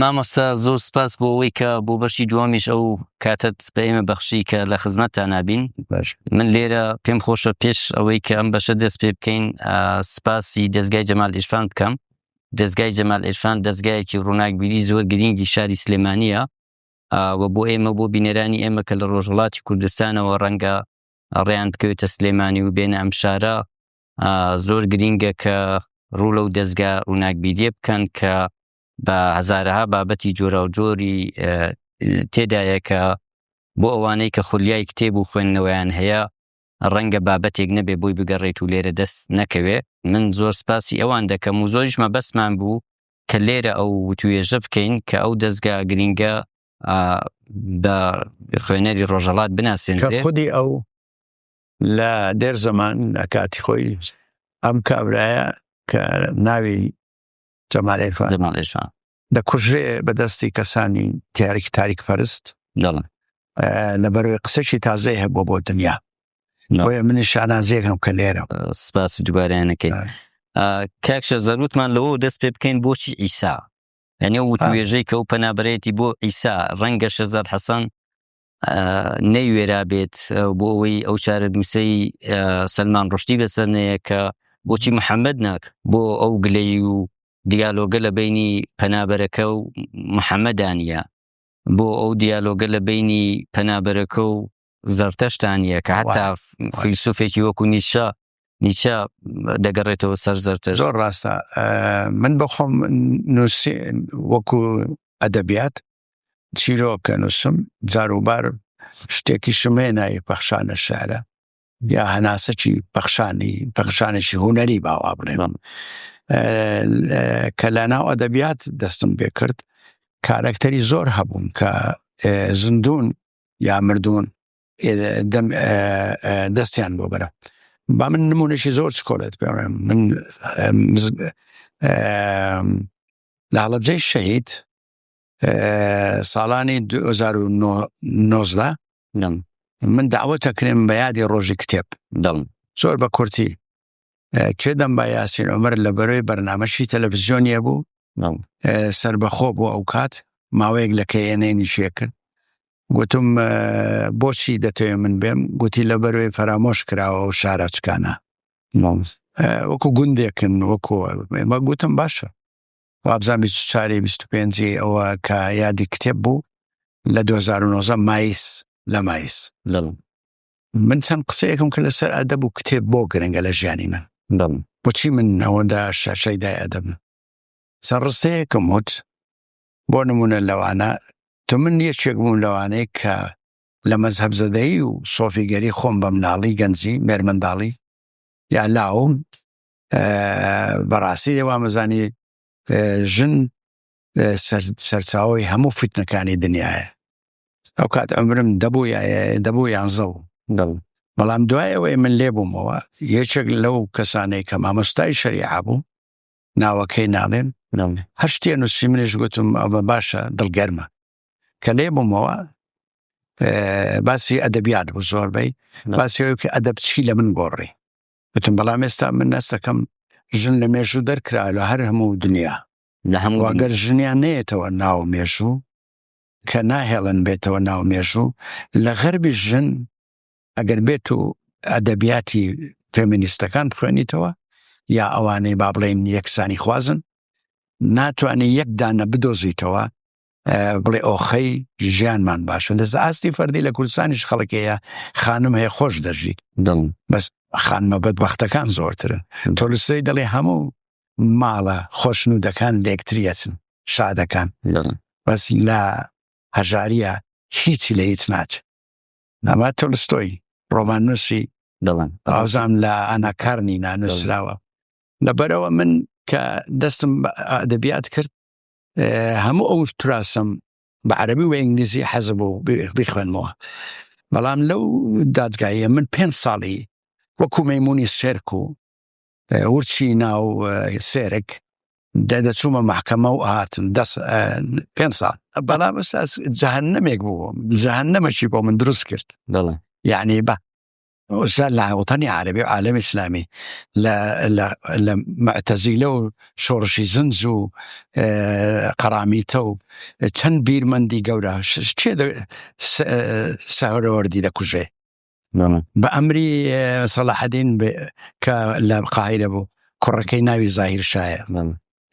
مامۆستا زۆر سپاس بۆ ئەوەی کە بۆ بەشی دووەمیش ئەو کاتت بە ئێمە بەخشی کە لە خزمەتتان نابین باش من لێرە پێم خۆشە پێش ئەوەی کە ئەم بەشە دەست پێ بکەین آه، سپاسی دەستگای جەمال ئیرفان بکەم دەستگای جەمال ئیرفان دەستگایەکی ڕووناکبیری زۆر گرینگی شاری سلێمانیە و بۆ ئێمە بۆ بینەرانی ئێمە کە لە ڕۆژهڵاتی کوردستانەوە ڕەنگە ڕێیان بکەوێتە سلێمانی و بێنە ئەم شارە زۆر گرینگە کە ڕوو لەو دەستگا ڕووناکبیریە بکەن کە بە هزارها بابەتی جۆرا و جۆری تێدایە کە بۆ ئەوانەی کە خولیای کتێب و خوێندنەوەیان هەیە ڕەنگە بابەتێک نەبێ بۆی بگەڕێت و لێرە دەست نەکەوێ من زۆر سپاسی ئەوان دەکەم و زۆریش مەبەستمان بوو کە لێرە ئەو وتوێژە بکەین کە ئەو دەستگا گرنگە بە خوێنەری ڕۆژەڵات بناسێن خودی ئەو لە دێر زەمان لە کاتی خۆی ئەم کابرایە کە ناوی جەمالێفان دەکوژرێ بە دەستی کەسانی تیارێکی تاریک پەرست لەبەروی قسەکی تازەی هەبوو بۆ دنیا بۆیە منی شانازیێکم کە لێرە سپاسی دوبارەیانەکەی کاکشە زەروتمان لەوە دەست پێ بکەین بۆچی ئیسا ئەنێ وتوێژەی کە و پەنابەرێتی بۆ ئیسا ڕەنگە شەزار حەسەن نەیوێرا بێت بۆ ئەوەی ئەو چارە دووسەی سلمان ڕشتی بەسەرەیە کە بۆچی محەممەد ناک بۆ ئەو گلەی و دیالۆگە لە بینی پەنابەرەکە و محەممەدانە بۆ ئەو دیالۆگە لە بینی پەنابەرەکە و زەرتەشتانە کە هەتا فیلسوفێکی وەکو نیشە نیچە دەگەڕێتەوە سەر زەرتە زۆر ڕاستە من بەخۆم نووسی وەکو ئەدەبیات چیرۆکە نووسم جاروبار شتێکیشم هەیە ناوی پەخشانە شارە یا هەناسەکی پەخشانی پەخشانێکی هوەری باوا بڵێنم کە لە ناو ئەدەبیات دەستم بێ کرد کارەکتەری زۆر هەبوون کە زندون یا مردون دەستیان بۆ بەرە با من نمونەشی زۆر چکۆلێت پێ من لە هەڵەبجەی شەهید ساڵانی 2009 من داوەتە کرێم بە یادی ڕۆژی کتێب دڵ زۆر بە کورتی چێ دەم با یاسین عمر لە بەرەوەی بەرنمەشی تەلەڤزیۆنیە بوو سربەخۆ بۆ ئەو کات ماوەیەک لە کەێنەی نیشیە کرد گوتم بۆچی دەتەوێ من بێم گوتی لە بەروێ فەرامۆش کراوە و شارەچکانە وەکو گوندێکن وەکو مە گوتم باشە وابزان 24 25 ئەوە کە یادی کتێب بوو لە 2009 مایس لە مایس من چەند قسەیەکم کە لەسەر ئەدەب و کتێب بۆ گرنگە لە ژیانی من بچی من ئەوەدا شەشەیدای ئەدەب سەر ڕستەیەکم وت بۆ نمونە لەوانە تو من یەکێک بووم لەوانەیە کە لە مەزهب زەدەی و سۆفیگەری خۆم بە مناڵی گەنجی مێرمنداڵی یا لاوم بەڕاستی لێ وامەزانی ژن سەرچاوی هەموو فیتنەکانی دنیاە ئەو کات ئەمرم دەبوو دەبوو یانزە و بەڵام دوایەوەی من لێ بوومەوە یەکێک لەو کەسانەی کە مامۆستای شەریعە بوو ناوەکەی ناڵێن هەر شتێ نووسی منیش گوتم ئەوە باشە دڵگەرمە کە لێ بوومەوە باسی ئەدەبیات بوو زۆربەی باسی کە ئەدەب چی لە من گۆڕی وتم بەڵام ئێستا من نەستەکەم ژن لە مێژوو دەرکرا لە هەر هەموو دنیا لە هەموو واگەر ژنیان نێتەوە ناو مێژوو کە ناهێڵن بێتەوە ناو مێژوو لە غەربی ژن ئەگەر بێت و ئەدەبیاتی فێمینیستەکان بخوێنیتەوە یا ئەوانەی با بڵێن یەکسانی خوازن ناتوانێت یەکدانە بدۆزیتەوە بڵێ ئۆخەی ژیانمان باشە لە ئاستی فەردی لە کوردستانیش خەڵکەیە خانم هەیە خۆش دەژیت بەس خانمە بەد بەختەکان زۆرترن تۆلسەی دەڵێ هەموو ماڵە خۆشن و دەکان لەکتریەچن شادەکان بەس لە هەژاریە هیچی لە هیچ ناچ ئەمە تۆلستۆی ڕۆمان نووسی دەڵێن ئازام لە ئەناکارنی نانوسراوە لەبەرەوە من کە دەستم ئەدەبیات کرد هەموو ئەو تراسم بە عربی و ئینگلیزی حەز بوو بخوێنمەوە بەڵام لەو دادگایە من پێ ساڵی وەکو مەمونی سێرک و ورچی ناو سێرک دەدەچوومە محکەمە و هاتن دەست پێ ساڵ بەڵام جاهنمێک بوو جاهنمەشی بۆ من دروست کرد یعنی بە ئوستا لە وڵتانی عربی و عالم ئیسلامی لە معتەزیلە و شۆڕشی زنج و قەرامیتە و چەند بیرمەندی گەورە چێ سەهرەوەردی دەکوژێ بە ئەمری سەلاحدین کە لە قاهرە بوو کوڕەکەی ناوی زاهیر شایە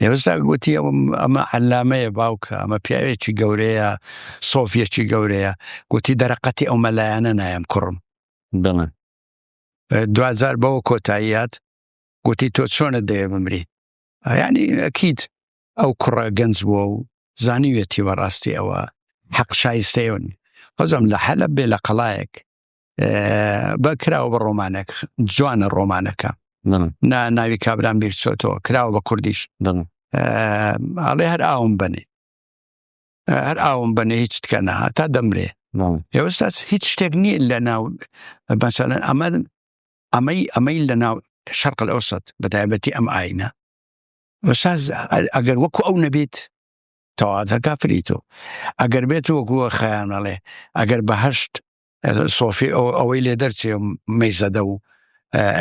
ئێستا گوتی ئەمە عەلامەیە باوکە ئەمە پیاوێکی گەورەیە سۆفیەکی گەورەیە گوتی دەرەقەتی ئەو مەلایەنە نایم کوڕم بڵێن دوجار بەوە کۆتاییات گوتی تۆ چۆنە دەیە بمری ینی ئەکییت ئەو کوڕە گەنج بووە و زانیوێتی بەڕاستی ئەوە حەق شایستەیەون بەزم لە حەلە بێ لە قەڵایەک بە کراوە بە ڕۆمانێک جوانە ڕۆمانەکە ناوی کابران بیرچۆتەوە کراوە بە کوردیش ئاڵێ هەر ئاوم بنێ هەر ئاوم بنێ هیچ تکە نەها تا دەمرێ ئێوەستا هیچ شتێک نییە لە ناو بەسەلەن ئەمە ئەمەی ئەمەی لە ناو شەرق ئەوسەت بە تایبەتی ئەم ئاینە ئەساز ئەگەر وەکو ئەو نەبیت تەواتە کافری تۆ ئەگەر بێت وەکووە خەیانەڵێ ئەگەر بەهشت سۆفی ئەوەی لێ دەرچێ مەیزەدە و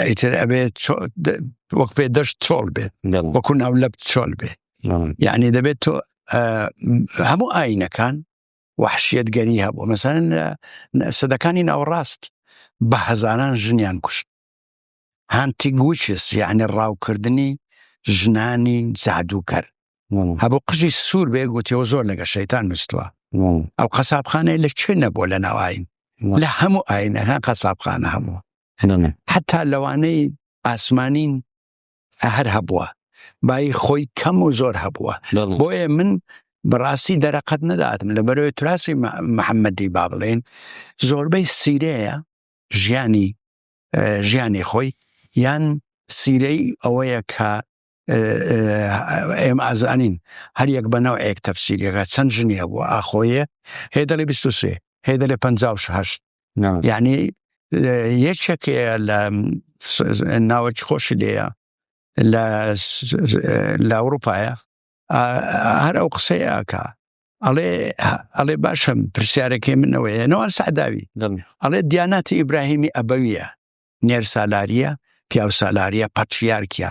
ئیتر ئەبێت وەک پێ دەشت چۆڵ بێت وەکو ناو لەب چۆل بێ یعنی دەبێت تۆ هەموو ئاینەکان وحشیت گەری هەبوو مەسەن سەدەکانی ناوەڕاست بە هەزاران ژنیان کوشت هانتینگ ویچس یعنی ڕاوکردنی ژنانی جادووکەر هەبوو قژی سوور بێ گوتیەوە زۆر لەگە شەیتان نووسوە ئەو قەسابخانەیە لە چێ نەبووە لە ناوین لە هەموو ئاینەکان قەسابخانە هەبووە حتا لەوانەی ئاسمانین هەر هەبووە بای خۆی کەم و زۆر هەبووە بۆیە من بەڕاستی دەرەقەت نەداتم لە بەرەوەی تراسی محەممەدی با بڵێن زۆربەی سیرەیە ژیانی ژیانی خۆی یان سیرەی ئەوەیە کە ئێمە ئازانین هەر یەک بە ناوێک تەفسیریەکە چەند ژنیە بووە ئاخۆیە هێدەڵی 23 هێدەلێ 5هشت یعنی یەکێک لە ناوەکی خۆشی لێە لە ئەوروپایە هەر ئەو قسەیەکە ئەڵێ ئەڵێ باشم پرسیارەکەی منەوەیە نەوان سەعداوی ئەڵێ دیاناتی ئیبراهیمی ئەبەویە نێر سالاریە پیاو سالاریە پەتریارکە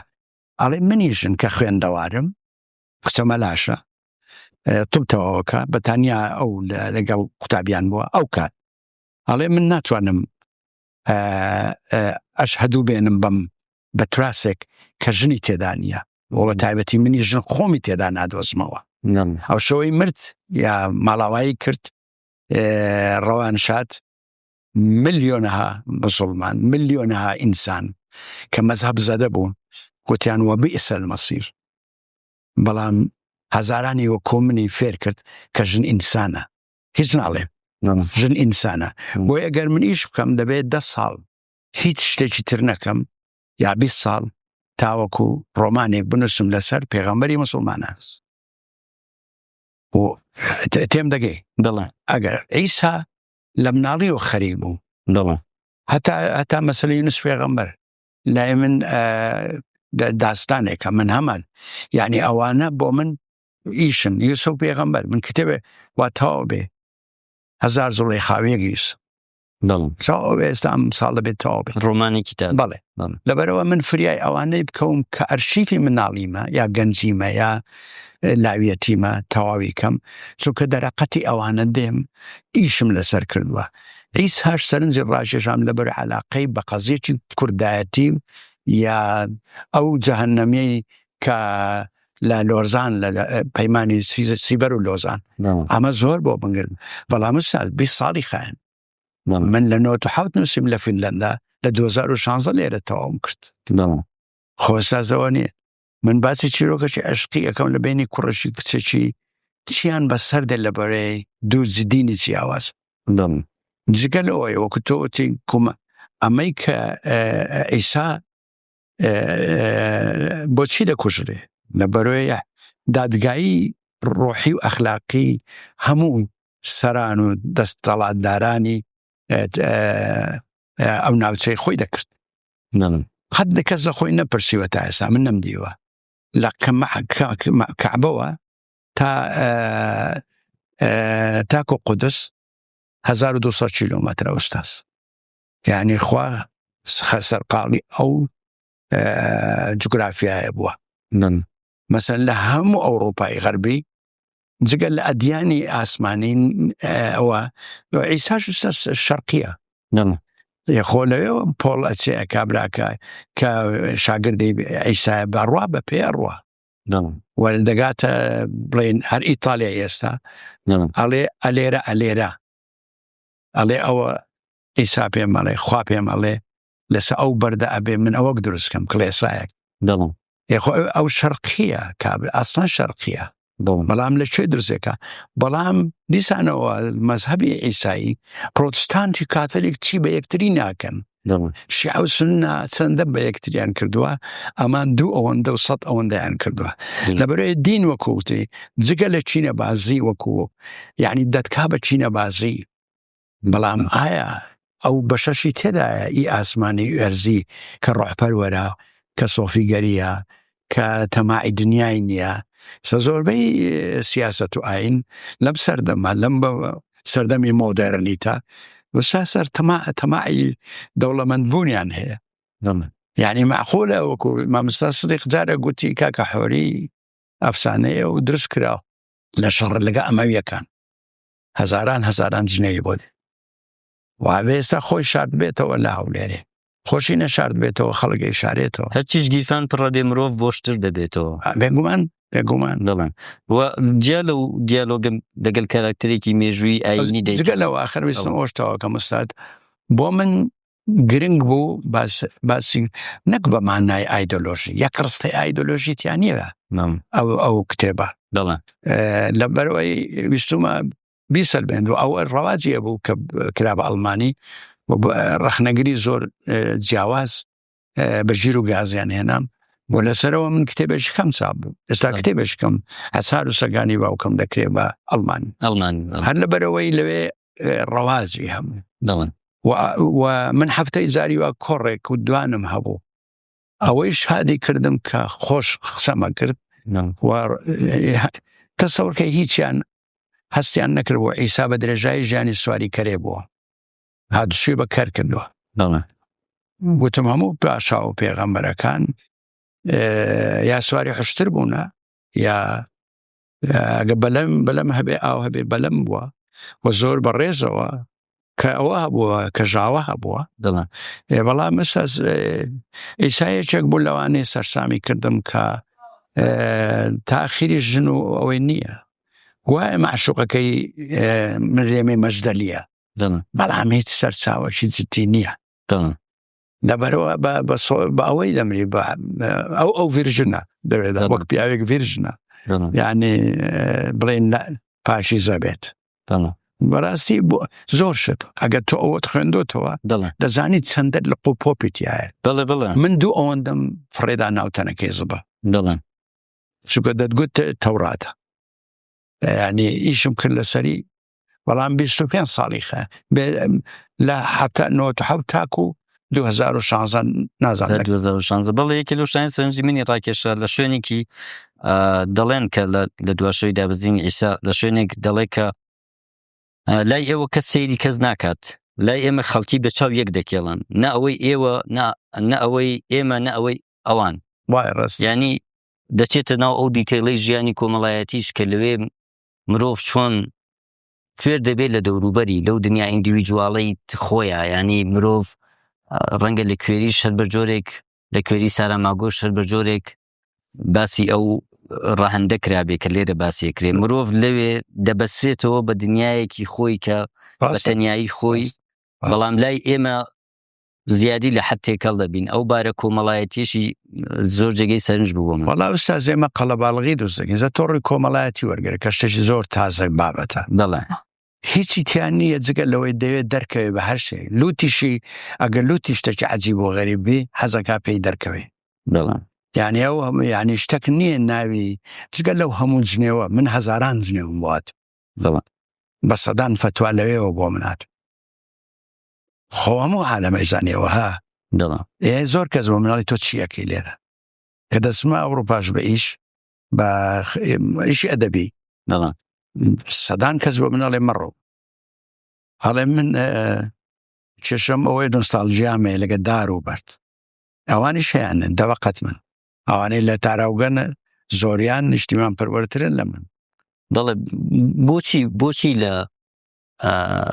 ئەڵێ منی ژن کە خوێندەوارم قچەمە لاشە تبتەوەکە بەتانیا ئەو لەگەڵ قوتابیان بووە ئەو کات ئەڵێ من ناتوانم ئەش هەدوو بێنم بم بە تراسێک کە ژنی تێدا نییە بۆ تایبەتی منی ژن خۆمی تێدا نادۆزمەوە ئەو شەوەی مرد یا ماڵاوایی کرد ڕەوان شاد ملیۆنەها بەسڵمان ملیۆنەها ئینسان کە مەذهب زەدە بوو گوتیان وە بئسەل مەسیر بەڵام هەزارانی وە کۆمنی فێر کرد کە ژن ئینسانە هیچ ناڵێ ژن ئینسانە بۆ ئەگەر من ئیش بکەم دەبێت ده ساڵ هیچ شتێکی تر نەکەم یا 20 ساڵ تاوەکو ڕۆمانێک بنووسم لەسەر پێغەمبەری مسلمانە بۆ تێم دەگەی دڵە ئەگەر ئیسا لە مناڵی و خەریک بوو دڵە هەتا هەتا مەسلی نووس پێغەمبەر لای من داستانێکە من هەمان یعنی ئەوانە بۆ من ئیشن یوسف و پێغەمبەر من کتێبێ وا تاو بێ هزار زڵی خاوێک یوس ئێستام ساڵ دەبێت تاو بێت ڕۆمانی کتاب بڵێ لەبەرەوە من فریای ئەوانەی بکەوم کە ئەرشیفی مناڵیمە یا گەنجیمە یا لاویەتیمە تەواوی کەم چونکە دەرەقەتی ئەوانە دێم ئیشم لەسەر کردووە هیچ هەر سەرنجی ڕاژێژام لەبەر علاقەی بە قەزیێکی کوردایەتی یا ئەو جەهنەمەی کە لە لۆزان لە پەیمانانی سیبەر و لۆزان ئەمە زۆر بۆ بنگرن بەڵام سال 20 ساڵی خایەن من لە 1970 نووسیم لە فیلەندا لە 2016 لێرە تەواوم کرد خۆسازەوە نیە من باسی چیرۆکەشی عشقی یەکەم لە بینی کوڕشی کچێکی چیان بە سەردە لە بەرەی دوو جددینی جیاواز جگە لەوەی وەکو تۆتی کومە ئەمەی کە ئیسا بۆچی دەکوژرێ لە بەرۆیە دادگایی ڕۆحی و ئەخلاقی هەموو سەران و دەستەڵاتدارانی ئەو ناوچەی خۆی دەکرد حد لە کەس لە خۆی نەپرسیوە تا ئێستا من نەم دیوە لە کەعبەوە تا تاکۆ قودس 1200 کیلومتر ئوستاس یعنی خوا سەرقاڵی ئەو جوگرافایە بووە مەسەن لە هەموو ئەوروپای غەربی جگە لە ئەدیانی ئاسمانی ئەوە ئیساش شەرقیە خۆ لەوێەوە پۆڵ ئەچێ کابراکە کە شاگردی ئەیسا بەڕوا بە پێ ڕوە وەل دەگاتە بڵێن هەر ئیتالیا ئێستا ئەڵێ ئەلێرە ئەلێرە ئەڵێ ئەوە ئیسا پێم ئەڵێ خوا پێم ئەڵێ لەسە ئەو بەردە ئەبێ من ئەوەک دروستکەم کڵێسایەک دڵم یخۆ ئەو شەرقیە کابر ئاسان شەرقیە بەڵام لە کوێ درزێکە بەڵام دیسانەوە مەذهبی ئیسایی پرۆتستانتی کاتەلێک چی بە یەکتری ناکەن شیعە و سوننە چەندە بە یەکتریان کردووە ئەمان دوو ئەوەندە و سەد ئەوەندەیان کردووە لەبەرەیە دین وەکووتی جگە لە چینە بازی وەکوو یعنی دەتکا بە چینە بازی بەڵام ئایا ئەو بەشەشی تێدایە ئی ئاسمانی ئەرزی کە ڕۆحپەروەرە کە سۆفیگەریە کە تەماعی دنیای نییە سە زۆربەی سیاست و ئاین لەم سەردەمە لەم بە سەردەمی مۆدەرنیتە وسا سەر تەما تەماعی دەوڵەمەندبوونیان هەیە یعنی معقولە وەکو مامستا سدیق جارە گوتی کاکە حۆری ئەفسانەیە و درست کرا لە شەڕ لەگە ئەمەویەکان هەزاران هەزاران جنێوی بۆ وابێ ئێستا خۆی شاردبێتەوە لە هەولێرێ خۆشی نەشاردبێتەوە خەڵگەی شارێتەوە هەرچیش گیرفان پڕە بێ مرۆڤ بۆشتر دەبێتەوە بێگومان بێگومان دەڵێن جیا لە و دیالۆگەم دەگەل کاراکتەرێکی مێژووی ئاینی دەگە لەەوە ئاخر وستم ئۆشتەوە کە مستاد بۆ من گرنگ بوو باسی نەک بە مانای ئایدۆلۆژی یەک ڕستی ئایدۆلۆژیتیان نیە ئەو ئەو کتێبە دەڵێن لەبەرەوەی ویستمە بیسەلمێنن و ئەوە ڕەواجی هەبوو کە کرا بە ئەڵمانی ڕخنەگری زۆر جیاواز بە ژیر و گازیان هێنام بۆ لەسەرەوە من کتێبێش کەم چاپ بوو ئێستا کتێبێش کەم هەسار و سەگانی باوکەم دەکرێ بە ئەڵمان ئەڵمان هەر لە بەرەوەی لەوێ ڕەوازی هەموو دەڵن و من هەفتەی زاری وە کۆڕێک و دوانم هەبوو ئەوەی شادی کردم کە خۆش قسەمە کرد تەسەورکە هیچیان هەستیان نەکردبوو ئیسا بە درێژایی ژیانی سواری کەرێ بووە هادوچی بە کەر کردووە گوتم هەموو پاشا و پێغەمبەرەکان یا سواری حشتر بوونە یا گە بەلەم بەلەم هەبێ ئاو هەبێ بەلەم بووە و زۆر بەڕێزەوە کە ئەوە هەبووە کە ژاوە هەبووە دڵە ئێ بەڵام مەسەز ئیسا یەکێک بوو لەوانەیە سەرسامی کردم کە تاخیری ژن و ئەوەی نییە وایە معشوقەکەی مرێمێ مەشدەلیە بەڵام هیچ سەرچاوەکی جدی نییە لەبەرەوە بە ئەوەی دەمری بە ئەو ئەو ڤژنە دەوێت وەک پیاوێک ڤژنە یعنی بڵێن پاشی زەبێت بەڕاستی بۆ زۆر شت ئەگەر تۆ ئەوەت خوێندۆتەوە دەزانی چەندەت لە قۆ پۆپیتایە دەڵێ بڵێ من دوو ئەوەندەم فڕێدا ناوتەنەکەی زبە دەڵێن چکە دەتگوت تەوراتە ینی ئیشم کرد لەسەری بەڵام 25 ساڵی خە لە تاکو 2016 نازان 2016 بەڵێ یەکە لە شتانی سەرنجی منی ڕاکێشە لە شوێنێکی دەڵێن کە لە دواشەوەی دابزینی ئیسا لە شوێنێک دەڵێ کە لای ئێوە کە سەیری کەس ناکات لای ئێمە خەڵکی بە چاو یەک دەکێڵن نە ئەوەی ئێوە نە ئەوەی ئێمە نە ئەوەی ئەوان وای ڕست ینی دەچێتە ناو ئەو دیتەیڵی ژیانی کۆمەڵایەتیش کە لەوێ مرۆڤ چۆن کوێر دەبێت لە دەوروبەری لەو دنیا ئیندیویجوواڵی خۆیە ینی مرۆڤ ڕەنگە لە کوێری شەر بە جۆرێک لە کوێری سارا ماگۆش شەر بە جۆرێک باسی ئەو ڕەهندە کرابێ کە لێرە باسیە کرێ مرۆڤ لەوێ دەبەسێتەوە بە دنیایەکی خۆی کە بە تەنایی خۆی بەڵام لای ئێمە زیادی لە حد تێکەڵ دەبین ئەو بارە کۆمەڵایەتیشی زۆر جێگەی سەرنج بووم وڵا ستا زێمە قەڵەباڵغی دۆزەگەن زە تۆڕی کۆمەڵایەتی وەرگەر کە شتێکی زۆر تازە بابەتە دەڵێ هیچی تیان نییە جگە لەوەی دەوێت دەرکەوێت بە هەر شێ لوتیشی ئەگەر لوتی شتێکی عجی بۆ غەریبی حەزەکە پێی دەرکەوێت بڵێن یعنی ئەو هەموو یعنی شتەک نییە ناوی جگە لەو هەموو جنێوە من هەزاران جنێوم وات بڵێن بە سەدان فتووا لەوێەوە بۆ منات خۆ هەموو عالەمە ئیزانەوە ها دڵە ئێ زۆر کەس بۆ مناڵی تۆ چیەکەی لێرە کە دەسما ئەوروپاش بە ئیش بە ئیشی ئەدەبی دڵە سەدان کەس بۆ مناڵێ مەڕۆ هەڵێ من کێشم ئەوەی نوستالژیامێ لەگە دار و بەرد ئەوانیش هەیەن دەوەقەت من ئەوانەی لە تاراوگەنە زۆریان نیشتیمان پەروەرترن لە من دەڵێ بۆچی بۆچی لە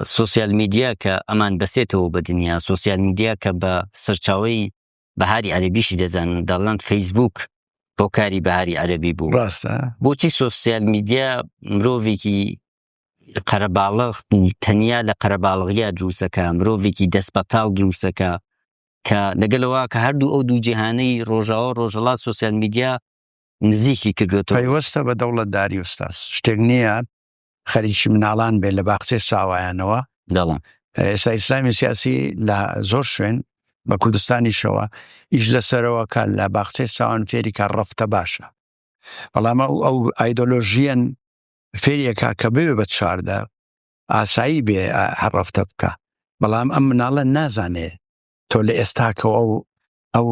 سوسیال میدیا کە ئەمان بەسێتەوە بە دنیا سوسیال میدیا کە بە سەرچاوی بەهاری عەربیشی دەزانن دەڵند فەیسبوک بۆ کاری بەهاری عەربی بوو ڕاستە بۆچی سوسیال میدیا مرۆڤێکی قەرەباڵغ تەنیا لە قەرەباڵغیا دروستەکە مرۆڤێکی دەست بەتاڵ دروستەکە کە لەگەلەوە کە هەردوو ئەو دوو جیهانەی ڕۆژاوە ڕۆژەڵات سوسیال میدیا نزیکی کردوێت پەیوەستە بە دەوڵەتداری ئوستاس شتێک نییە خەریکی مناڵان بێت لە باخچەی ساوایانەوە دەڵم ئێستا ئیسلامی سیاسی لە زۆر شوێن بە کوردستانیشەوە ئیش لەسەرەوەکە لە باخچەی ساوان فێریکە ڕفتە باشە بەڵام ئەو ئەو ئایدۆلۆژیەن فێریەکە کە بێ بە چواردە ئاسایی بێ هەڕفتە بکە بەڵام ئەم مناڵە نازانێ تۆ لە ئێستاکە ئەو ئەو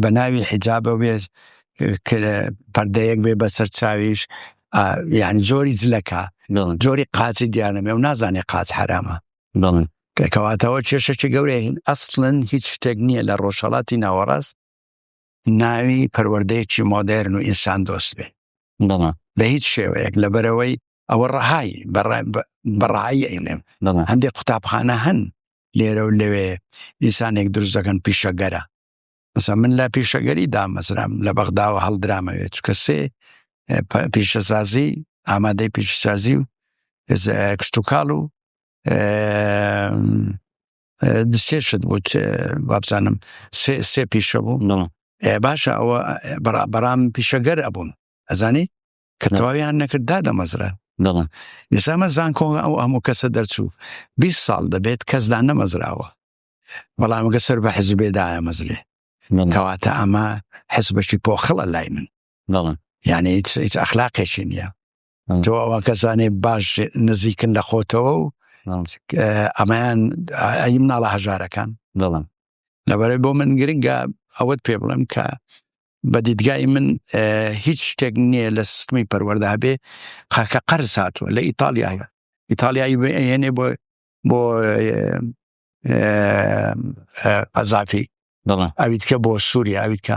بە ناوی حیجابە وێز پەردەیەک بێ بەسەر چاویش یعنی جۆری جلەکە جۆری قاچی دیانەمێ و نازانێ قاچ حرامە کەکەواتەوە کێشەکی گەورەین ئەسڵن هیچ شتێک نییە لە ڕۆژهڵاتی ناوەڕاست ناوی پەروەردەیەکی مۆدێرن و ئینسان دۆست بێ بە هیچ شێوەیەک لەبەرەوەی ئەوە ڕەهایی بەڕایی ئەیڵێم هەندێک قوتابخانە هەن لێرە و لەوێ ئینسانێک دروست دەکەن پیشەگەرە مەسە من لە پیشەگەری دامەزرام لە بەغداوە هەڵدرامەوێت چکە سێ پیشەسازی ئامادەی پیشسازی و کشتتوکاڵ و دسێشت بوت وابزانم سێ پیشە بوو باشە ئەوە بەرام پیشەگەر ئەبوون ئەزانی کە تەواویان نەکرد دا دەمەزرە دڵم ئێسامە زانکۆ ئەو هەموو کەسە دەرچوو 20 ساڵ دەبێت کەسدا نەمەزراوە بەڵامگە سەر بە حزبێدایە مەزلێ کەواتە ئەمە حزبەشی پۆخڵە لای من دڵم یعنی هیچ ئەخلاقێکی نییە تۆ ئەوە کەسانێ باش نزیکن لە خۆتەوە و ئەمەیان ئەی مناڵە هەژارەکان دڵم لەبەرەی بۆ من گرنگە ئەوەت پێ بڵێم کە بە دیدگای من هیچ شتێک نییە لە سیستمی پەروەەردا بێ قاکە قەرز هاتووە لە ئیتالیا هەیە ئیتالیایی بێنێ بۆ بۆ قەزافی ئەویتکە بۆ سووریا ئەویتکە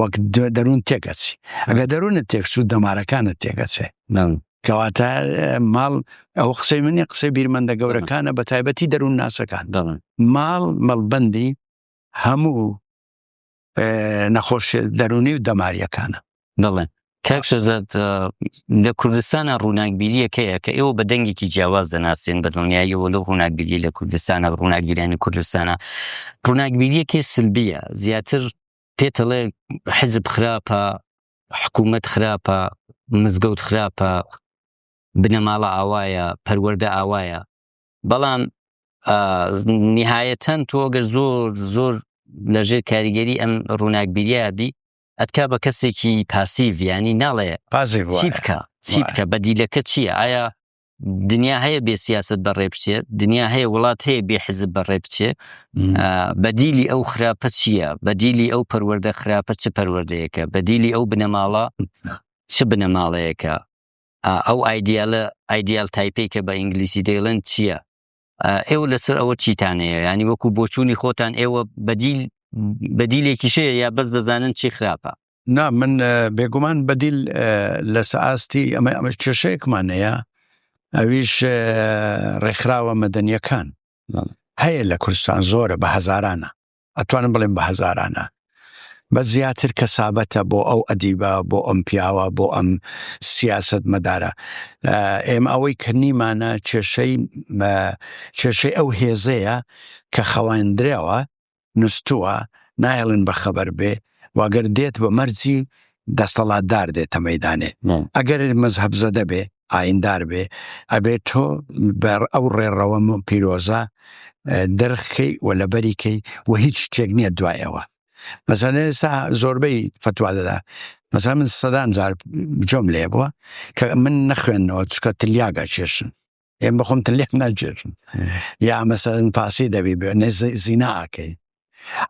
وەک دەروون تێکەچی ئەگە دەروونە تێکچوو دەمارەکانە تێکەچێ کەواتە ماڵ ئەو قسەی منی قسەی بیرمەندە گەورەکانە بە تایبەتی دەروون ناسەکان ماڵ مەڵبندی هەموو نەخۆش دەرونی و دەماریەکانە دەڵێن کاکشەزاد لە کوردستانە ڕووناکبیریەکەیە کە ئێوە بە دەنگێکی جیاواز دەناسیێن بە دڵنیاییەوە لەو ڕووناکبیری لە کوردستانە ڕووناکگیرانی کوردستانە ڕووناکبیریەکێ سلبیە زیاتر پێتەڵێ حزب خراپە حکوومەت خراپە مزگەوت خراپە بنەماڵە ئاوایە پەروەەردە ئاوایە بەڵام نهایەتەن تۆگەر زۆر زۆر لەژێر کاریگەری ئەم ڕووناکبیریە بی ئەتکا بە کەسێکی پاسیڤ ینی ناڵێ پازی بکە چی بکە بەدیلەکە چییە ئایا دنیا هەیە بێ سیاست بە ڕێبچێ دنیا هەیە وڵات هەیە بێ حزب بە ڕێبچێ بەدیلی ئەو خراپە چییە بەدیلی ئەو پەروەەردە خراپە چ پەروەردەیەەکە بەدیلی ئەو بنەماڵە چ بنەماڵەیەەکە ئەو ئایدیالە ئایدیال تایپی کە بە ئینگلیسی دەیڵند چییە ئێوە لەسەر ئەوە چیتانەیە ینی وەکو بۆچوونی خۆتان ئێوە بەدیل بەدیلێکی شەیە یا بەس دەزانن چی خراپە نا من بێگومان بەدیل لە سەئاستی ئەمە ئەمە کێشەیەکمانەیە ئەویش ڕێکخراوە مەدەنیەکان هەیە لە کوردستان زۆرە بە هەزارانە ئەتوانم بڵێم بە هەزارانە بە زیاتر کەسابەتە بۆ ئەو ئەدیبە بۆ ئەم پیاوە بۆ ئەم سیاست مەدارە ئێمە ئەوەی کە نیمانە کێشەی کێشەی ئەو هێزەیە کە خەواندرەوە نوستووە نایڵن بە خەبەر بێ واگەر دێت بە مەرجی دەسەڵاتدار دێتە مەدانێ ئەگەر مەزهب زەدە بێ ئایندار بێ ئەبێ تۆ بەر ئەو ڕێڕەوە من پیرۆزە دەرخکەی و لەبەریکەی و هیچ شتێک نییە دوایەوە مەزان ئێستا زۆربەی فتوا دەدا مەزان من سەدان جار جۆم لێ بووە کە من نەخوێندنەوە چکە تلیاگە چێشن ئێم بەخۆم تلێک ناجێشن یا مەسەرن پاسی دەبی بێ نێ زیناکەی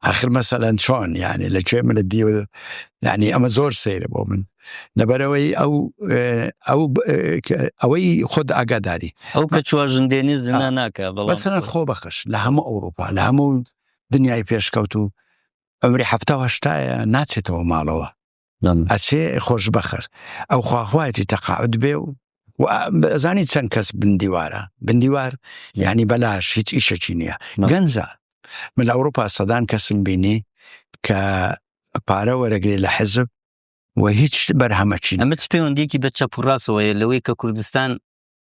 ئاخر مەسەلەن چۆن یانێ لە کوێ منە دیو یعنی ئەمە زۆر سەیرە بۆ من لەبەرەوەی ئەو ئەو ئەوەی خۆت ئاگاداری ئەو کە چوار ژندێنی زنا ناکە بەسەر خۆ بەخش لە هەموو ئەوروپا لە هەموو دنیای پێشکەوت و ئەمری هەفتاهشتایە ناچێتەوە ماڵەوە ئەچێ خۆش بەخر ئەو خواخوایەتی تەقاعد بێ و زانی چەند کەس بندیوارە بندیوار ینی بەلاش هیچ ئیشەکی نییە گەنجە من لە ئەوروپا سەدان کەسم بینی کە پارە وەرەگری لە حزب و هیچ بەرهەمەچی ئەمە پەیوەندێکی بە چەپڕاستەوەیە لەوەی کە کوردستان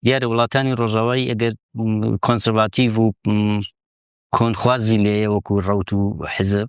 دیارە وڵاتانی ڕۆژاوایی ئەگەر کۆنسەرڤاتیڤ و کۆنخوازی لێە وەکو ڕوت و حزب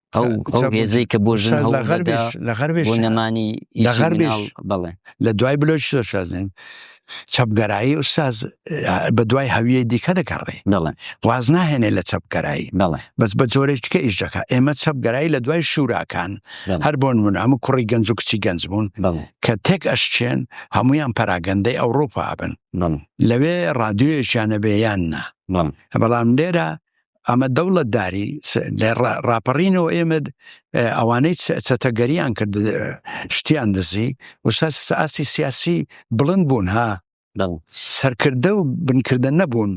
ئەو ئەو هێزەی کە بۆ ژن لە غەربێش لە غەربێش نەمانی لە غەربێش بڵێ لە دوای بلۆچ شازن چەپگەرایی ئوساز بە دوای هەویە دیکە دەکەڕێ بڵێ واز ناهێنێ لە چەپگەرایی بڵێ بەس بە جۆرێشتکە ئیش دەکە ئێمە چەپگەرایی لە دوای شوراکان هەر بۆن من هەموو کوڕی گەنج و کچی گەنج بوون کە تێک ئەشچێن هەمویان پەراگەندەی ئەوروپا بن لەوێ ڕادیۆیەشیانە بێ یان نا بەڵام لێرە ئەمە دەوڵەت داری لە ڕاپەڕینەوە ئێمە ئەوانەی چەتەگەریان کرد شتیان دزی وساس ئاستی سیاسی بڵند بوون ها سەرکردە و بنکردە نەبوون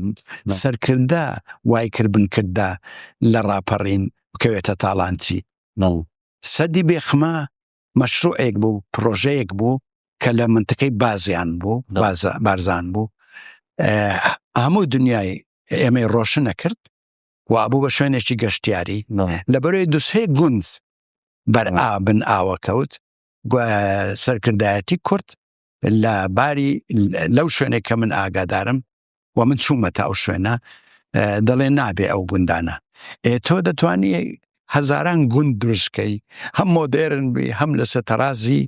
سەرکردە وای کرد بنکردە لە ڕاپەڕین بکەوێتە تاڵانچی سەدی بێخما مەشروعێک بوو پرۆژەیەک بوو کە لە منتەکەی بازیان بوو بارزان بوو هەموو دنیای ئێمەی ڕۆشنە کرد و بوو بە شوێنێکی گەشتیاری لە بەرەوەی دوسێ گونج بەر ئابن ئاوە کەوت سەرکردایەتی کورت لە باری لەو شوێنێک کە من ئاگادارم و من چوومە تا ئەو شوێنە دەڵێ نابێ ئەو گوندانە ئێ تۆ دەتوانی هەزاران گوند دروستکەی هەم مۆدێرن بی هەم لەسەر تەرازی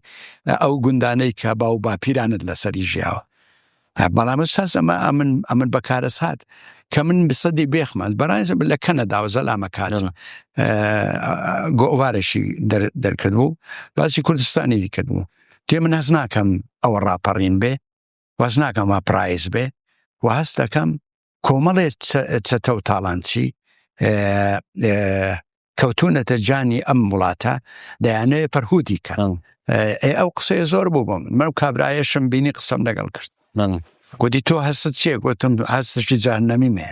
ئەو گوندانەی کە باو باپیرانت لەسەری ژیاوە بەڵام ساز ئەمە ئەمن ئەمن بەکارە سات کە من بسەدی بێخمان بەڕایزە لە کەنەدا و زەلامەکان گۆوارەشی دەرکردبوو باسی کوردستانی کردبوو تێ من هەز ناکەم ئەوە ڕاپەڕین بێ وەز ناکەم وا پرایز بێ و هەست دەکەم کۆمەڵێ چەتە و تاڵانچی کەوتونەتە جانی ئەم وڵاتە دەیانەوێت فەرهودی کەن ئەو قسەیە زۆر بوو بم من کابراایشم بینی قسەم لەگەڵ کرد گوتی تۆ هەست چێ گوتم هەستشی جانەمی مێ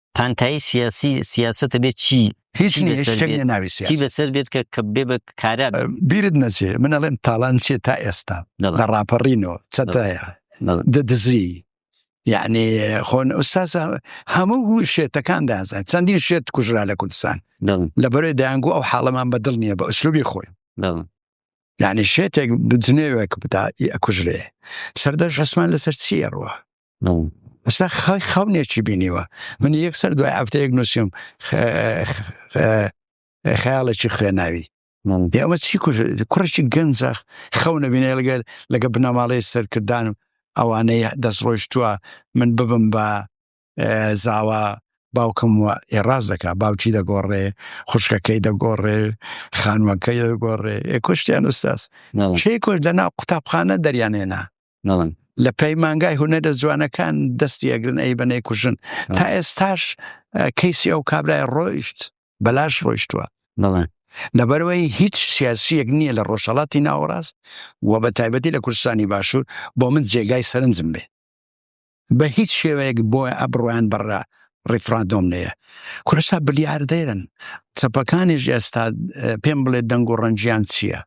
پانتایی سیاسی سیاستە بێت چی هیچ نیە شتێک نیە ناوی چی سیاسی بەسەر بێت کە کە بێ بە کارا بێت. بیرت نەچێ من ئەڵێم تاڵان چێ تا ئێستا دەڵێ. لە ڕاپەڕینەوە چەتایە دەڵێ. دە دزری یعنی خۆن ئوستازە هەموو هو شێتەکان دازان چەندین شێت کوژرا لە کوردستان دەڵێ. لە بەرەی دەیانگو ئەو حاڵەمان بەدڵ نییە بە ئوسلوبی خۆی دەڵێ. یعنی شێتێک بجنێوێک بدا ئەکوژرێ سەردەش عسمان لەسەر چیە ڕوە ئستا خای خەونێکی بینیوە من یەک سەر دوای هەفتەیەک نووسیم خیاڵێکی خوێناوی ئەمە چی کوڕێکی گەنجەخ خەونە بینێ لەگەر لەگە بنەماڵەی سەرکردان و ئەوانەی دەستڕۆیشتووە من ببم بە زاوا باوکم و ئێڕاز دەکا باوکی دەگۆڕێ خوشکەکەی دەگۆڕێ خانوەکەی دەگۆڕێ ئێکۆشتیان ئوستاس شێ کۆش دەنا قوتابخانە دەریانێنا نەڵن لە پەیمانگای هونەرە جوانەکان دەستی ئەگرن ئەی بەنەی کوژن تا ئێستاش کەیسی ئەو کابرای ڕۆیشت بەلاش ڕۆیشتووە نەڵێن لەبەرەوەی هیچ سیاسیەک نییە لە ڕۆژهڵاتی ناوەڕاست و بە تایبەتی لە کوردستانی باشوور بۆ من جێگای سەرنجم بێ بە هیچ شێوەیەک بۆ ئەبڕۆیان بەڕە ڕیفراندۆم نەیە کورسا بلیاردێرن چەپەکانیش ئێستا پێم بڵێ دەنگ و ڕەنجیان چییە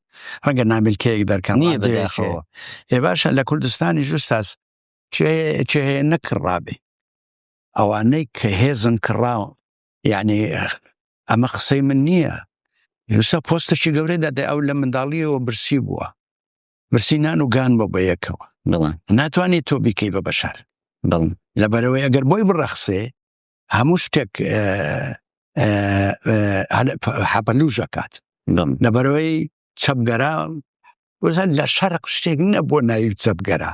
ڕەنگە نامیلکەیەک دەرکەن ئێ باشە لە کوردستانی ژوستاس چێ نەکڕابێ ئەوانەی کە هێزن کڕاوە یعنی ئەمە قسەی من نییە یوسا پۆستەشی گەورەی دەدە ئەو لە منداڵیەوە برسی بووە برسی نان و گان بۆ بە یەکەوە بڵێ ناتوانێت تۆ بیکەی بە بەشار بڵ لەبەرەوەی ئەگەر بۆی بڕەخسێ هەموو شتێک حەپەلوژەکات لەبەرەوەی چەپگەرا وزان لە شەرق شتێک نەبووە ناوی چەپگەرا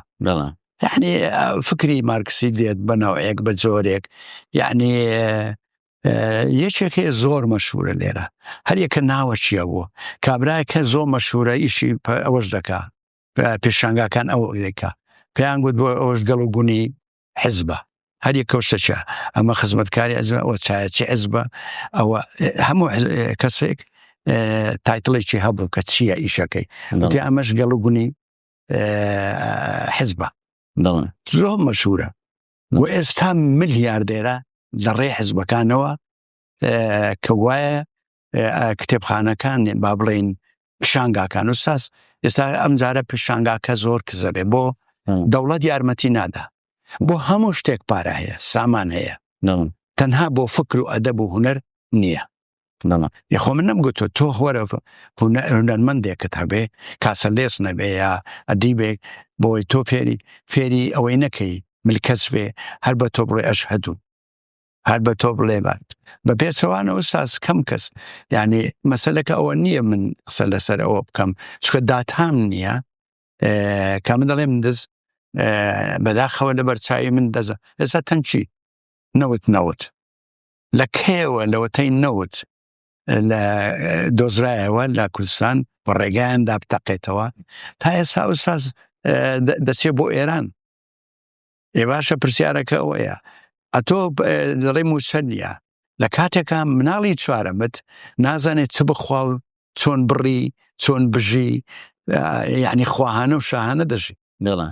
یعنی فکری مارکسی دێت بەناوەیەک بە جۆرێک یعنی یەکێک هەیە زۆر مەشهورە لێرە هەریەکە ناوە چییە بوو کابراایەکە زۆر مەشهورە ئیشی ئەوەش دەکا پێشانگاکان ئەو دەکا پێیان گوت بۆ ئەوش گەڵ و گونی حزبە هەریە کەوشتەچە ئەمە خزمەتکاری ئەزمە ئەوە چایەچی ئەزبە ئەوە هەموو کەسێک تایتڵێکی هەبوو کە چییە ئیشەکەی ئەمەش گەڵ و گونی حزبە زۆر مەشهورە و ئێستا ملیاردێرە لە ڕێ حزبەکانەوە کە وایە کتێبخانەکان با بڵین پیشانگاکان و ساس ئێستا ئەم جارە پیشانگاکە زۆر کزەبێ بۆ دەوڵەت یارمەتی نادا بۆ هەموو شتێک پارە هەیە سامان هەیە تەنها بۆ فکر و ئەدەب و هوەر نییە یخۆ من نم گوتو تۆ هۆرە هونەرمەندێکت هەبێ کاسە لێس نەبێ یا ئەدی بێ بۆی تۆ فێری فێری ئەوەی نەکەی ملکەس بێ هەر بە تۆ بڵێ ئەش هەدوو هەر بە تۆ بڵێ بات بە پێچەوانەوە ساز کەم کەس یعنی مەسلەکە ئەوە نییە من قسە لەسەر ئەوە بکەم چکە داتام نییە کە من دەڵێم دز بەداخەوە لە بەرچوی من دەزە ئێستا تەنکی نەوت نەوت لە کەیەوە لەوەتەی نەوت لە دۆزرایەوە لە کوردستان بە ڕێگایاندا بتەقێتەوە تا ئێستا ئوساز دەچێت بۆ ئێران ئێ باشە پرسیارەکە ئەوەیە ئەتۆ لەڕێ موچە نیە لە کاتێکا مناڵی چوارەمت نازانێت چ بخوا و چۆن بڕی چۆن بژی یعنی خواهانە و شاهانە دەژی دڵە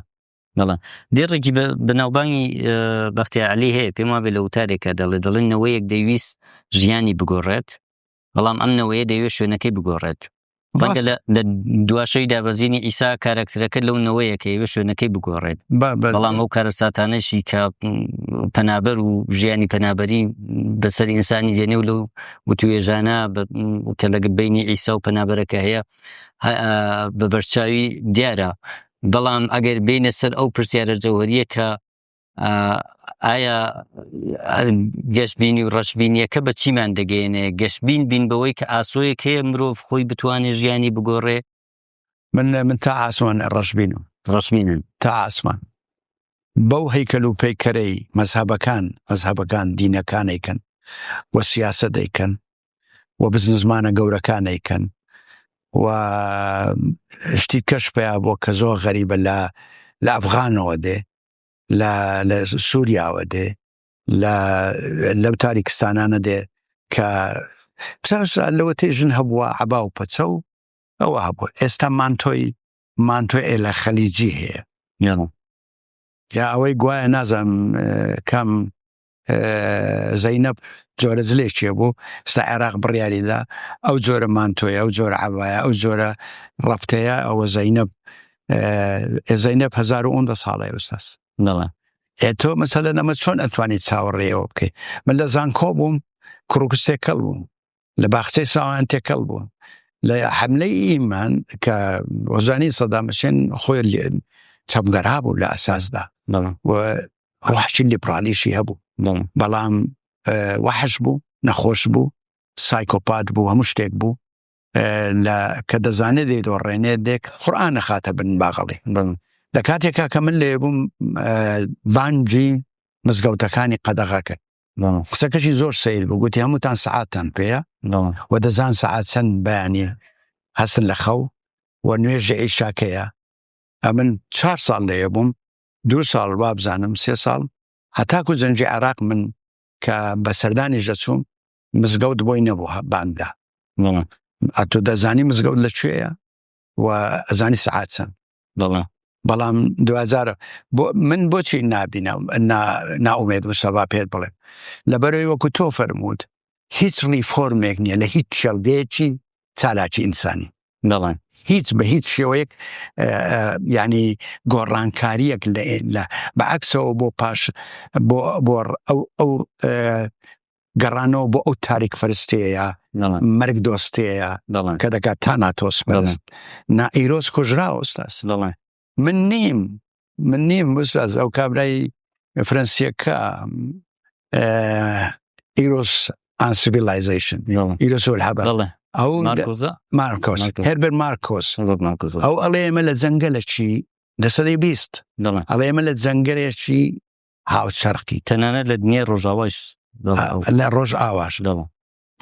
بەڵام دێڕێکی بەناوبانگی بەختیعلی هەیە پێم وابێ لە وتارێکە دەڵێ دەڵێن نەوەیەک دەویست ژیانی بگۆڕێت بەڵام ئەم نەوەیە دەوێت شوێنەکەی بگۆڕێت ڕەنگە لە دواشەی دابەزینی ئیسا کارکتەرەکە لەو نەوەیە کە ئێوە شوێنەکەی بگۆڕێت بەڵام ئەو کارەساتانەشی کە پەنابەر و ژیانی پەنابەری بەسەر ئینسانی دێنێ و لەو وتوێژانە کە لەگە بینی ئیسا و پەنابەرەکە هەیە بە بەرچاوی دیارە بەڵام ئەگەر بینە سەر ئەو پرسیارە جەوەریە کە ئایا گەشتبینی و ڕەشببینیەکە بە چیمان دەگەێنێ گەشتبین بین بەوەی کە ئاسۆیەک هەیە مرۆڤ خۆی بتوانێ ژیانی بگۆڕێ من من تا ئاسمان ڕەشبینم ڕەشبینن تا ئاسمان بەو هەیکەل و پەیکەرەی مەزهبەکان مەزهبەکان دینەکانێکن و سیاسە دەیکەن و بزنزمانە گەورەکان ئەیکەن و شتی کەش پیا بۆ کە زۆر غەریبە لە لە ئەفغانەوە دێ لە لە سووریاوە دێ لە لەو تاریکستانانە دێ کە لەوە تێ ژن هەبووە عبا و پەچە و ئەوە هەبوو ئێستا مانتۆی مانتۆ ئێ لە خەلیجی هەیە یا ئەوەی گوایە نازانم کام زەینەب جۆرە زلێکێ بوو ستا عێراق بڕیاریدا ئەو جۆرە مانتۆیە ئەو جۆرە عباە ئەو جۆرە ڕفتەیە ئەوە زەینەب زەینەب 1970 ساڵی ئوستاس نڵە تۆ مەسەلە نەمە چۆن ئەتوانیت چاوەڕێەوە بکەیت من لە زانکۆ بووم کوڕکستێک کەڵ بووم لە باخچەی ساوایان تێکەڵ بوون لە حملەی ئیمان کە وەزانی سەدامەشێن خۆی لێن چەپگەرا بوو لە ئەساسدا ڕحشی لیپرالیشی هەبوو بەڵام وەحش بوو نەخۆش بوو سایکۆپات بوو هەموو شتێک بوو لە کە دەزانێت دێت و ڕێنێ دێک قورآان نەخاتە بن باغڵی لە کاتێکا کە من لێ بووم بانجی مزگەوتەکانی قەدەغا کرد قسەکەشی زۆر سیر بوو گوتی هەمووتان سعاتان پێەیە و دەزان سعات چەند بەیانە هەستن لە خەو و نوێژە ئیشاکەیە ئەمن چهار ساڵ لەیە بووم دو ساڵ وابزانم سێ ساڵ هەتاکو زەنجی عراق من کە بە سەردانیش دەچووم مزگەوت بۆی نەبوو باندا ئەتو دەزانی مزگەوت لە کوێیە و ئەزانی سعات چەند دڵە بەڵام دوجارە بۆ من بۆچی نبینم ناومێت وسەبا پێت بڵێ لەبەرەوەی وەکو تۆ فەرمووت هیچ ڕیفۆرمێک نییە لە هیچ چێڵگەیەکی چالاکی ئینسانی دەڵێن هیچ بە هیچ شێوەیەک ینی گۆڕانکاریەک لە بەعکسەوە بۆ پاش بۆ ئەو ئەو گەڕانەوە بۆ ئەو تاریک پەرستەیە مەرگ دۆستەیە کە دەکات تا ناتۆس پەرست نائیرۆز کوژرا ئۆستاس دەڵێ من نیم من نیم بساز ئەو کابرای فرەنسیەکە ئیرۆس ئاسیڤلایزیشن ئیرۆس هەبە ئەو مارکۆس هەربەر مارکۆس ئەو ئەڵێ ئێمە لە جەنگە لە چی لە سەدەی بیست ئەڵێ ئێمە لە جەنگەرێکی هاوچەرقی تەنانەت لە دنیای ڕۆژاواش لە ڕۆژ ئاواش دەڵم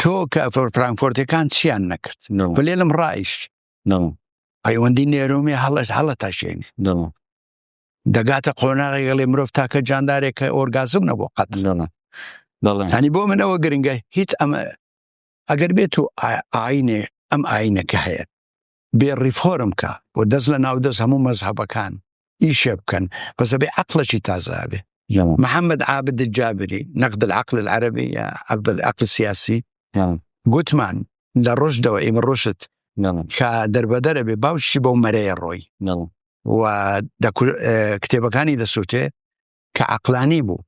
تۆ کە فرانکۆرتەکان چیان نەکرد بلێلم ڕایش پەیوەندی نێرۆمی هەڵش هەڵە تاشێنێ دەگاتە قۆناغی گەڵێ مرۆڤ تاکە جاندارێکە ئۆرگازم نەبوو قەت هەنی بۆ منەوە گرنگە هیچ ئەمە ئەگەر بێت و ئاینێ ئەم ئاینەکە هەیە بێ ڕیفۆرم کا و دەست لە ناو دەست هەموو مەزهەبەکان ئیشێ بکەن بەس ئەبێ عەقڵێکی تازە ئەبێ محمد عابد الجابري نقد العقل العربي يا عبد العقل السياسي گوتمان لە ڕۆژدەوە ئیمە ڕۆشت کە دەربەدەرە بێ باوشی بەو مەرەیە ڕۆی و کتێبەکانی دەسووتێ کە عقلانی بوو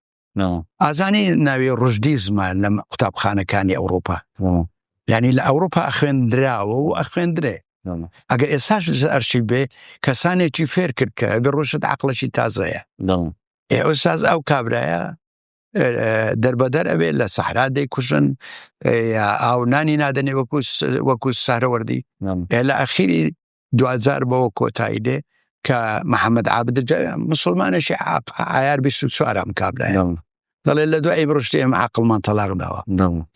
ئازانی ناوی ڕژدی زمە لە قوتابخانەکانی ئەوروپا ینی لە ئەوروپا خوێندراوە و ئەخوێندرێ ئەگە ئێساش ئەرشی بێ کەسانێکی فێر کرد کە ئەگە ڕۆشت عقلەشی تازەیە ئێساز ئەو کابرایە دەربەدەر ئەوێ لە سەحرا دەیکوژن یا ئاو نانی نادەنێ وەکو وەکو سارەوەردی لە ئەخیری دواجار بەوە کۆتایی دێ کە محەممەد عابد مسلمانێکی ئایار 24 ئەم کابرای دەڵێ لە دوای بڕشتی ئێمە عقلمان تەلاق داوە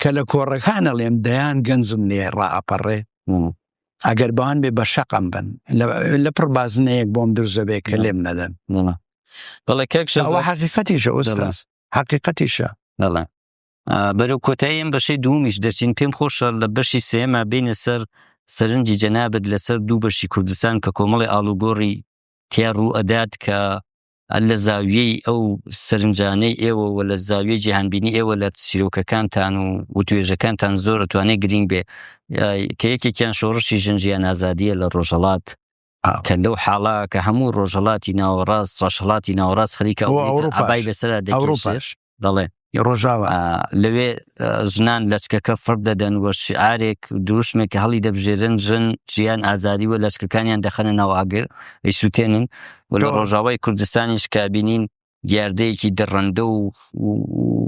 کە لە کۆڕەکانە لێم دەیان گەنجم لێ ڕاپەڕێ ئەگەر بەوان بێ بە شەقم بن لە پڕ بازنەیەک بۆم درزەبێ کە لێم نەدەن بەڵێ کەکشەوە حقیقەتیشە ئوستاس حقیقەتیشە بەرەو کۆتایی ئەم بەشەی دومیش دەچین پێم خۆشە لە بەشی سێمە بینە سەر سەرنجی جەنابەت لەسەر دوو بەشی کوردستان کە کۆمەڵی ئالوگۆڕی تیا ڕوو ئەدات کە لە زاویەی ئەو سەرنجانەی ئێوە و لە زاویە جیهانبینی ئێوە لە سیرۆکەکانتان و وتوێژەکانتان زۆر توانێت گرنگ بێ کە یەکێکیان شۆڕشی ژنجیان ئازادیە لە ڕۆژەڵات کە لەو حاڵا کە هەموو ڕۆژهڵاتی ناوەڕاست ڕەشهڵاتی ناوەڕاست خەریکە ئەوڕوپای بەسرا دەڕوپاش دەڵێ ڕۆژاوە لەوێ ژنان لەچکەکە فرد دەدەن وە شعارێک دروشمێک کە هەڵی دەبژێرن ژن ژیان ئازاری وە لەچکەکانیان دەخەنە ناوئاگر ئەی سووتێنن و لە ڕۆژاوای کوردستانیش کابینین دیاردەیەکی دڕندە و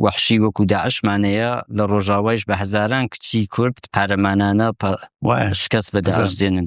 وەحشی وەکو داعشمانەیە لە ڕۆژاوایش بە هەزاران کچی کورد قارەمانانە شکست بەداش دێنن